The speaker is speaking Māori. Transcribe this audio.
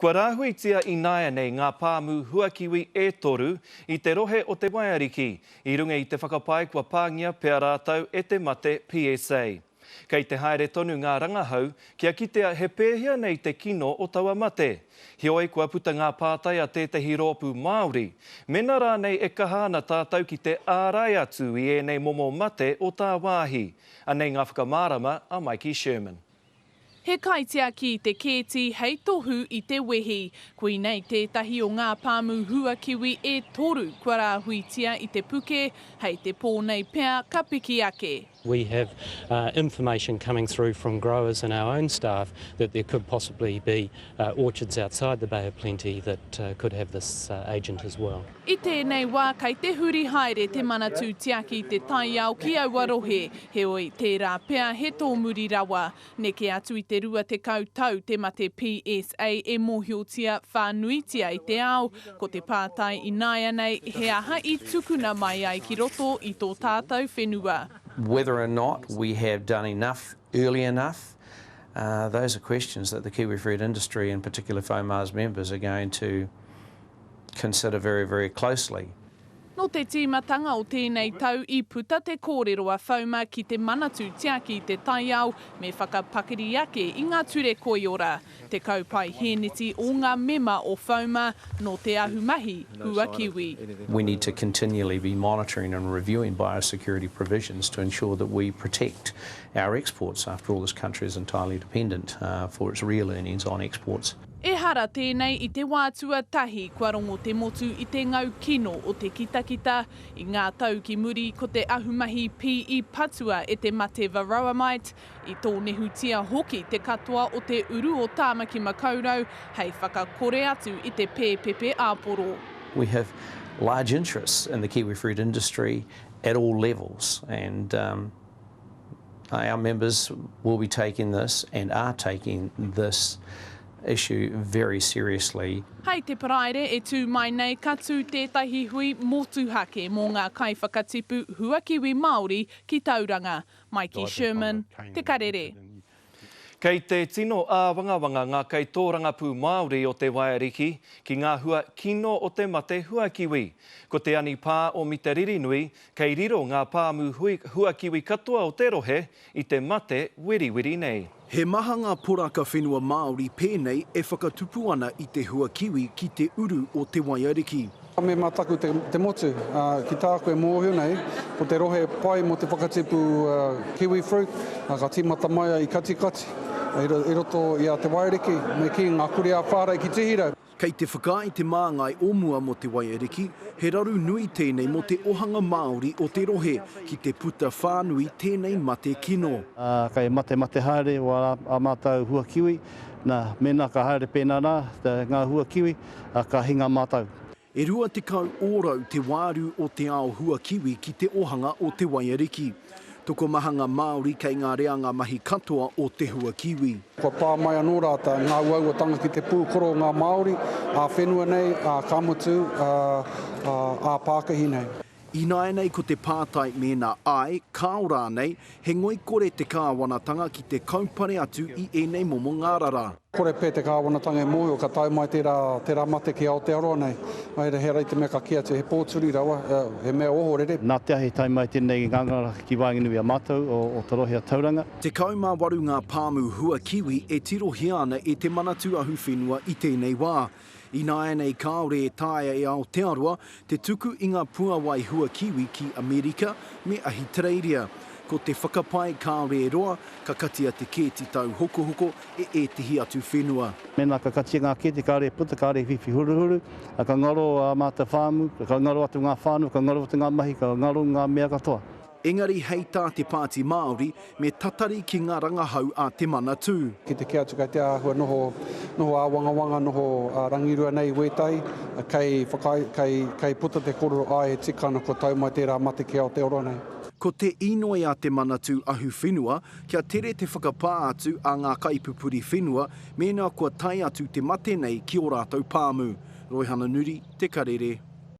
Kua rāhuitia ināianei ngā pāmu huakiwi e toru i te rohe o Te Waiariki i runga i te whakapae kua pāngia pea rātou e te mate PSA. Kei te haere tonu ngā rangahau kia kitea he pēhea nei te kino o taua mate, heoi kua puta ngā pātai a tētehi rōpū Māori, mena rānei e kaha ana tātou ki te ārai atu i ēnei momo mate o tāwāhi. Anei ngā whakamārama a Mikey Sherman. He kaitiaki i te kēti hei tohu i te wehi. Koinei tētahi o ngā pāmu huakiwi e toru kua rāhuitia i te puke, hei te pō nei pea ka piki ake. We have information coming through from growers and our own staff that there could possibly be orchards outside the Bay of Plenty that could have this agent as well. I tēnei wā kei te huri haere te Manatū Tiaki te taiao ki aua rohe, heoi, tērā pea he tōmuri rawa. Neke atu i te 20 tau te mate PSA e mōhiotia whānuitia i te ao, ko te pātai ināianei he aha i tukuna mai ai ki roto i tō tātou whenua. Whether or not we have done enough early enough, those are questions that the kiwifruit industry, in particular FOMARS members, are going to consider very, very closely. Nō te tīmatanga o tēnei tau i puta te kōrero a FOMA ki te Manatū Tiaki i te Taiao me whakapakari ake i ngā ture koiora, te kaupae hēneti o ngā mema o FOMA nō te ahumahi hua kiwi. We need to continually be monitoring and reviewing biosecurity provisions to ensure that we protect our exports, after all this country is entirely dependent for its real earnings on exports. Ehara tēnei i te wā tuatahi kua rongo te motu i te ngau kino o te kitakita. I ngā tau ki muri ko te ahumahi pī i patua e te mate Varroamite, i tōnehutia hoki te katoa o te uru o Tāmaki Makaurau hei whakakore atu i te pēpepe āporo. We have large interests in the kiwifruit industry at all levels and. Our members will be taking this and are taking this issue very seriously. Hei te Paraire e tū mai nei ka tū tētahi hui motuhake mō ngā kaiwhakatipu huakiwi Māori ki Tauranga, mai ki Sherman, Te Karere. Kei te tino āwangawanga ngā kaitōrangapū Māori o Te Waeriki ki ngā hua kino o te mate huakiwi. Ko te anipā o Mita Ririnui, kei riro ngā pāmu hui huakiwi katoa o te rohe i te mate wiriwiri nei. He maha ngā poraka whenua Māori pēnei e whakatupu ana i te huakiwi ki te uru o Te Waeariki. Ka mema taku te motu, ā, ki tāku e mōhio nei, ko te rohe pai mō te whakatipu Kiwi Fruit, ā, ka tīmata mai ai i Katikati, i roto i a Te Wairiki, me kī, ngā kurī a Whārei ki Tihirau. Kei te whakaae te māngai o mua mō Te Waiariki, he raru nui tēnei mō te ohanga Māori o te rohe, ki te puta whānui tēnei mate kino. Ā, kei matemate haere ō ā mātou hua kiwi, nā, mēnā ka haere pēnā rā ngā hua kiwi, a ka hinga mātou. E rua tekau ōrau te wāru o te ao hua kiwi ki te ohanga o Te Waiariki. Tokomahanga Māori kei ngā reanga mahi katoa o te hua kiwi. Kua pā mai anō rātou, ngā uauatanga ki te pūkoro o ngā Māori, ā-whenua nei, ā-ka motu, ā-pākahi nei. Ināianei ko te pātai mēnā āe, kāo rānei, he ngoikore te Kāwanatanga ki te kaupare atu i ēnei momo ngārara. Kore pea te Kāwanatanga e mōhio ka tae mai tērā, tērā mate ki Aotearoa nei. Ā, he aha te mea ka kī atu, he pōturi rawa, he mea ohorere. Nā te aha i tae mai tēnei ngangara ki waenganui i a mātou o Te Rohe a Tauranga? 18 ngā pāmu hua kiwi e tirohia ana e Te Manatū Ahuwhenua i tēnei wā. Ināianei kāore e taea e Aotearoa te tuku i ngā puawai hua kiwi ki Amerika me Ahitereiria. Ko te whakapae kāore e roa, ka katia te kēti tauhokohoko e ētehi atu whenua. Mēnā ka katia ngā kēti kāore e puta, kāore e whiwhi huruhuru, ā, ka ngaro ā mātou pāmu, ka ngaro atu ngā whānau, ka ngaro atu ngā mahi, ka ngaro ngā mea katoa. Engari hei tā te Pāti Māori, me tatari ki ngā rangahau a te Manatū. Ki te kī atu kei te āhua noho, noho āwangawanga, noho rangirua nei i wētahi, kei whakaae, kei, kei puta te kōrero, āe he tika ana kua tau mai tērā mate ki Aotearoa nei. Ko te inoi a te Manatū Ahuwhenua, kia tere te whakapā atu a ngā kaipupuri whenua mēnā kua tae atu te mate nei ki ō rātou pāmu. Roihana Nuri, Te Karere.